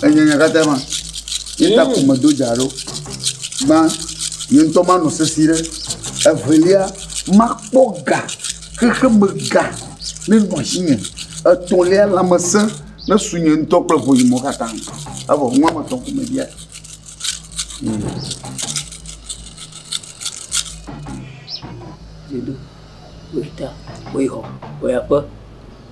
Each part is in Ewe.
Enyanya katã ma. Ye ta ko medo dza ɖo. Ma ye ŋutɔ manɔ sesi ɖe. Evelia, makpɔ ga, xexeme ga nenɔ asinye. Etɔ̃lia, lãmesẽ nesu nye ŋutɔ kple ʋunyumɔwo katã. Evɔ nu wɔme etɔ̃ ko mebia.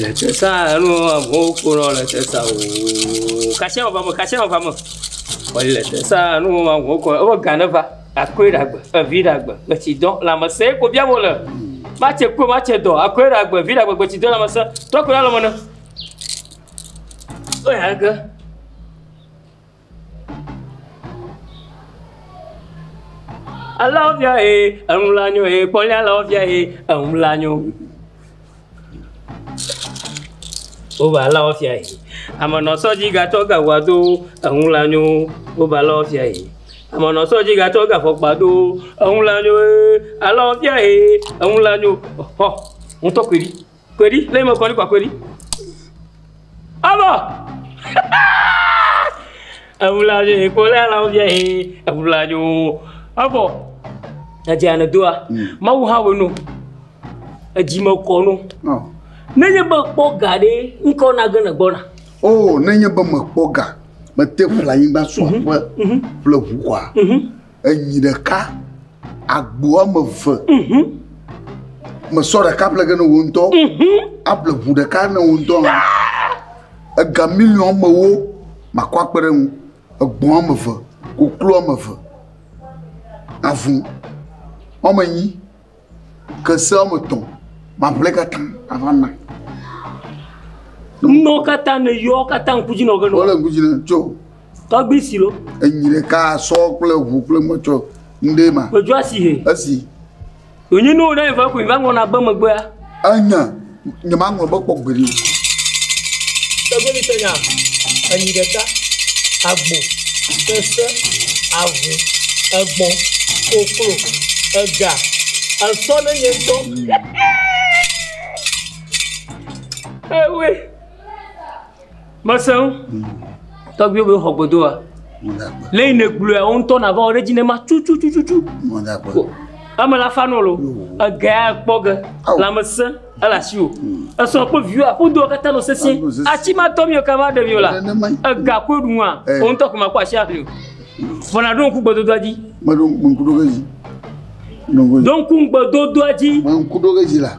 le te sa enu amewo ƒonɔ le te sa o kasia va me kasia va me wòle le te sa enu amewo kɔ eƒe ga ne va akɔe ɖe agbe evi ɖe agbe gbetsidɔ lãmesẽ ye ko biam wòle matse kpɔ matse dɔ akɔe ɖe agbe vi ɖe agbe gbetsidɔ lãmesẽ tɔ ko ɖe alɔme ne Kpɔe ale ke, alɔvia ye enu la nyo ye kpɔ nye alɔvia ye enu la nyo. Wobe alɔvia ye amenɔsɔ dzi gatsɔ gawa do enu la nyo wobe alɔvia ye amenɔsɔ dzi gatsɔ gafɔkpa do enu la nyo ye alɔvia ye enu la nyo xɔ ŋutɔ ƒe ɖi. Kɔe ɖi, ne mekɔ ɖi kɔ kɔe ɖi. Ɔbɔ! Ewuladzo yi ko lé lãwo bia yi, ewuladzo. Ɔbɔ! Edze ane doa, Mawu hã wɔ no. Edzi me kɔ no. Ɔ. Nenye be kpɔ ga ɖe, ŋkɔ na ge ne gbɔna. O, nenye be mekpɔ ga, mete ƒle anyigba so aƒe ƒle ʋu kɔa, Enyi ɖeka, agbo woame eve. Mhm. Mesɔ ɖeka ƒle ge ne wo ŋutɔ. Mhm. Aƒle ʋu ɖeka ne wo ŋutɔ hã. Ega miliɔn woame ewo makɔ akpe ɖe ŋu. Egbɔ̃ woame eve, koklo woame eve, avu woame enyi. Ke se woame etɔ̃ mamlɛ katã ava na. Nuwo katã ne yɔ katã ŋkudzi nɔ ge nɔ. Wole ŋkudzi nɔ tso. Tɔgbi si lo. Enyi ɖeka sɔ kple ŋu kple mɔtsɔ ŋɖe ma. Gbedzɔ asi he. Esi. Wònyi nuwo ɖe va koe va ŋlɔna be megbea. Enya. Nyemaŋlɔ be kpɔ gbeɖe o. Tɔgbevitɔ nya, enyi ɖeka, agbo, sese, avu, egbɔ̃, koklo, ega, esɔ ne nye ŋutɔ. Ewe. Mese ŋu. Tɔgbuiwo be xɔ godoa. Mɔdakpe. Lɛyi ne gblɔa wo ŋutɔ nava wo ɖe dzi ne ma tututututu. Mɔdakpe. Ame la fa nolo. Egea kpɔ ge. Lame se ele asi o. Esɔ kple viwo aƒu do katã no sese. Atsi ma tɔ mi o kava ɖe mi o la. Ega koe ɖu nua. Wo ŋutɔ ko ma kpɔ asi aƒli o. Vɔ na ɖo ŋku gbedodoa dzi. Me ɖo ŋku ɖo ge dzi. Ɖo ŋku gbedodoa dzi. Me ŋku ɖo ge dzi la.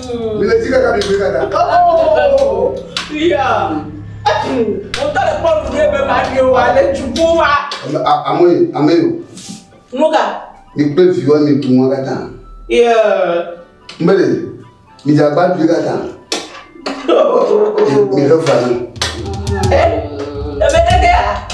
Mileti kaka mi gbe dada. Oh, yeah. Mo ta le kpɔlu ɖe be ma ɖe wa le dzuku wa. Ame yi, ame yi. Nuka? Mi kple viwa mi tu mɔ kata. Yeah. Mbele, mi dza gba dui kata. Mi he fa ni. Eh, ebe ɖe ɖe ya.